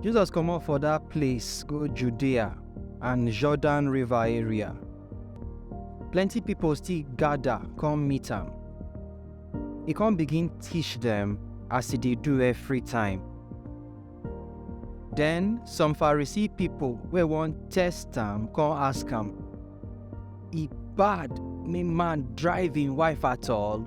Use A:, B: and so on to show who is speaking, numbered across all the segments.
A: Jesus comot for dat place go Judea and Jordan River area. Plenty pipo still gada come meet am. E come begin teach dem as e dey do every time. Den some Pharisee pipo wey wan test am come ask am, E bad make man drive im wife at all?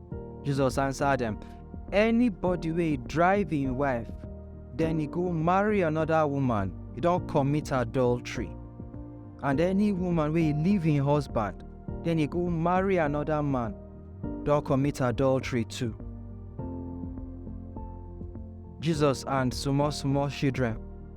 A: Jesus answer dem, Anybody wey drive im wife, then he go marry another woman, he don commit adultery. And any woman wey leave im husband, then he go marry another man, don commit adultery too. Jesus and small small children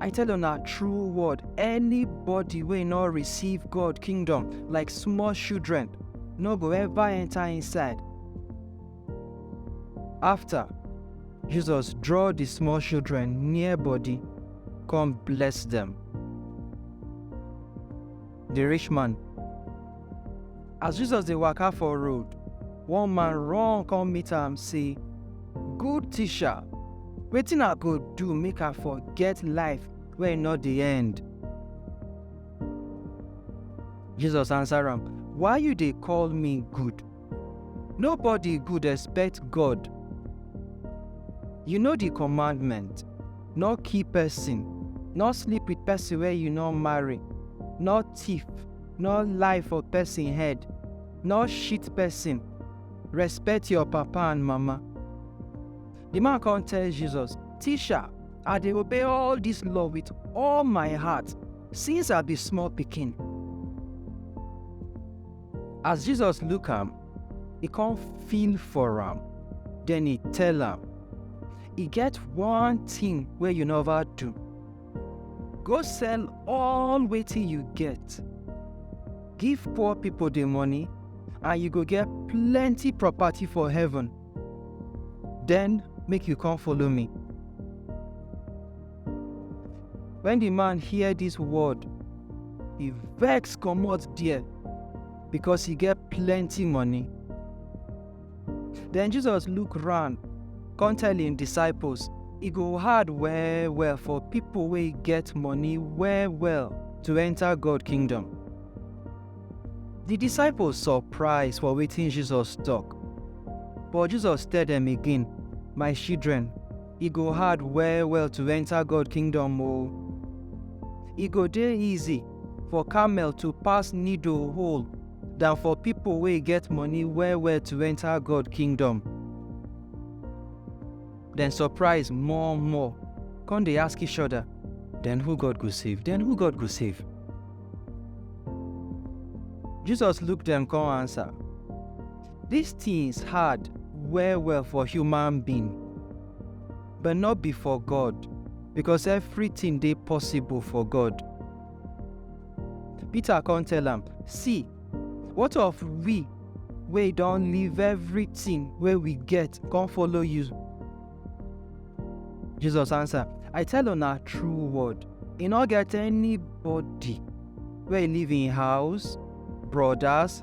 A: I tell una true word, anybody wey no receive God kingdom like small children no go ever enter inside. After, Jesus draw the small children near body, come bless them. Di rich man. As Jesus dey waka for road, one man run come meet am say, Good teacher, wetin I go do make I for get life wey no dey end? Jesus answer am, Why you dey call me good? Nobody good except God. You know the commandment, no kill person, no sleep with person wey you no marry, no thief, no lie for person head, no shit person, respect your papa and mama. The man come tell Jesus, Teacher, I dey obey all this law with all my heart since I be small pikin. As Jesus look am, e come feel for am, then e tell am, E get one thing wey you never do. Go sell all wetin you get, give poor people the money, and you go get plenty property for heaven. Then make you come follow me. Wen di man hear dis word, e vex comot there because e get plenty money. Den Jesus look round come tell im disciples, E go hard well well for pipo wey get money well well to enta God kingdom. Di disciples surprise for wetin Jesus tok, but Jesus tell dem again, My children, e go hard well well to enter God kingdom o. E go dey easy for camel to pass needle hole than for people wey get money well well to enter God kingdom. Dem surprise more more, come dey ask each other, then who God go save? Then who God go save? Jesus look dem come answer, Dis tins hard well-well for human being, but no be for God, becos evritin dey possible for God. Peter con tell am, See, what of we wey don leave evritin wey we get con follow you? Jesus ansa, I tell una true word, e no get anybody wey leave im house, brodas,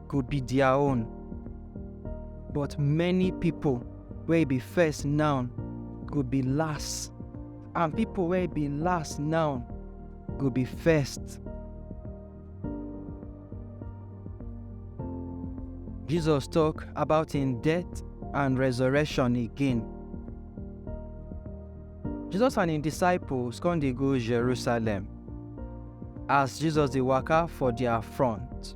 A: go be their own. But many people wey be first now go be last, and people wey be last now go be first. Jesus talk about him death and resurrection again. Jesus and him disciples come dey go Jerusalem. As Jesus dey waka for their front,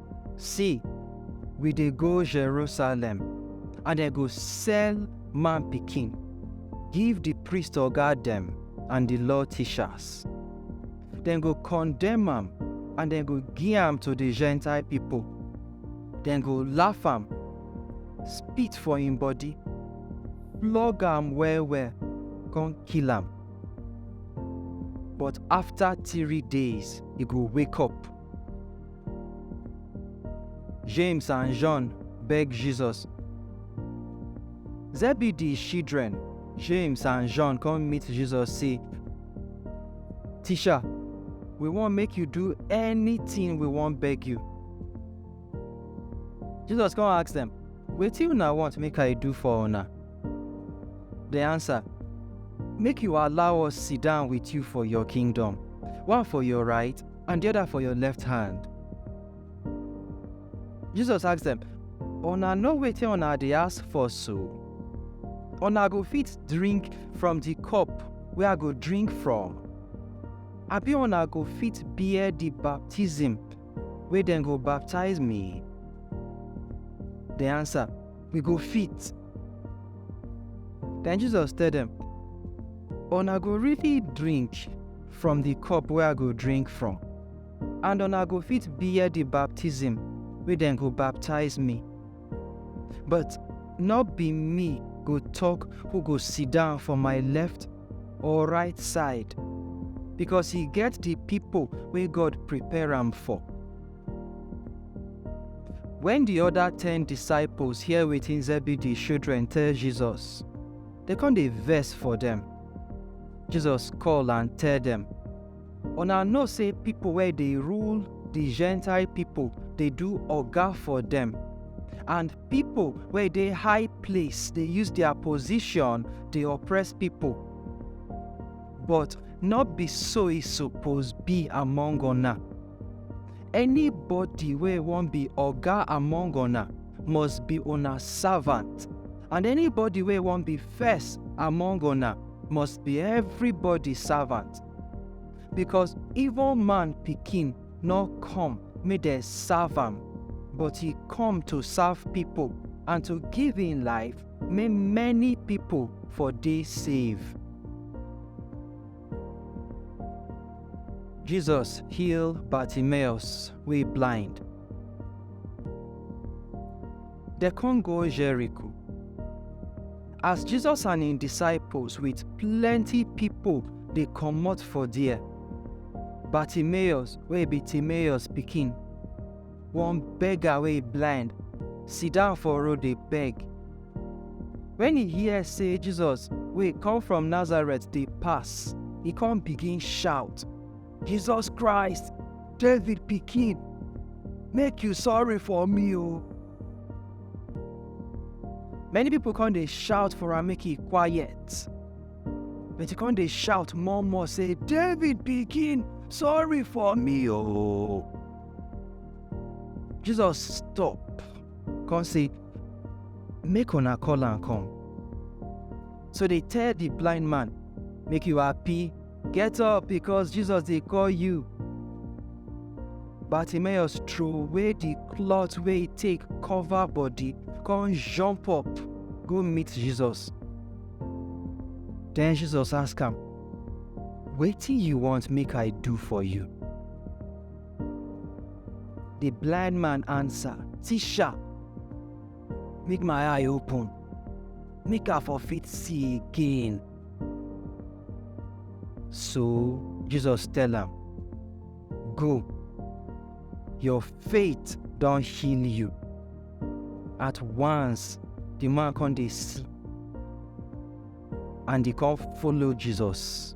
A: See, we dey go Jerusalem, and dem go sell man pikin give di priest oga dem and di law teachers. Dem go condemn am and dem go give am to di Gentile pipo. Dem go laugh am, spit for im body, flog am well-well, come kill am. But afta three days, e go wake up. James and John beg Jesus. Zebedee children, James and John come meet Jesus say, Teacher, we wan make you do anything we wan beg you. Jesus come ask them, Wetin una want make I do for una? They answer, Make you allow us sit down with you for your kingdom, one for your right and di oda for your left hand. Jesus ask dem, Una know wetin una dey ask for so? Una go fit drink from di cup wey I go drink from? Abi una go fit bear di baptism wey dem go baptize me? Dem ansa, We go fit. Den Jesus tell dem, Una go really drink from di cup wey I go drink from, and una go fit bear di baptism wey dem go baptize me. But nor be me go tok who go sidon for my left or right side, becos e get di pipo wey God prepare am for. Wen di oda ten disciples hear wetin Zebedee shildren tell Jesus, dem con dey vex for dem. Jesus call and tell dem, Una know sey pipo wey dey rule di Gentile pipo dey do oga for dem, and pipo wey dey high place dey use dia position dey oppress pipo. But nor be so e suppose be among una. Anybody wey wan be oga among una must be una servant, and anybody wey wan be first among una must be everybody servant because even man pikin no come make dem serve am but he come to serve people and to give him life make many people for dey save. Jesus heal Bartimaeus wey blind. Dem come go Jericho. as Jesus and im disciples with plenty pipo dey comot for there, Bartimaeus wey be Timaeus pikin, one beggar wey blind, sidon for road dey beg. Wen e hear sey Jesus wey come from Nazareth dey pass, e come begin shout. Jesus Christ, David pikin, make you sorry for me o. Many people come dey shout for am make e quiet. But e come dey shout more more say, David pikin, sorry for me o. Jesus stop, come say, make una call am come. So they tell the blind man, make you happy Get up, because Jesus dey call you. Bartimaeus throway the cloth wey e take cover body, come jump up go meet Jesus. Then Jesus ask am, Wetin you want make I do for you? The blind man answer, Teacher, make my eye open make i for fit see again so jesus tell am go your faith don heal you at once the man come dey see and he come follow jesus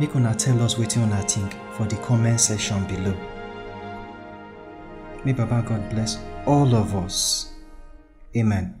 A: Make una tell us wetin una think for the comment section below. May Baba God bless all of us. Amen.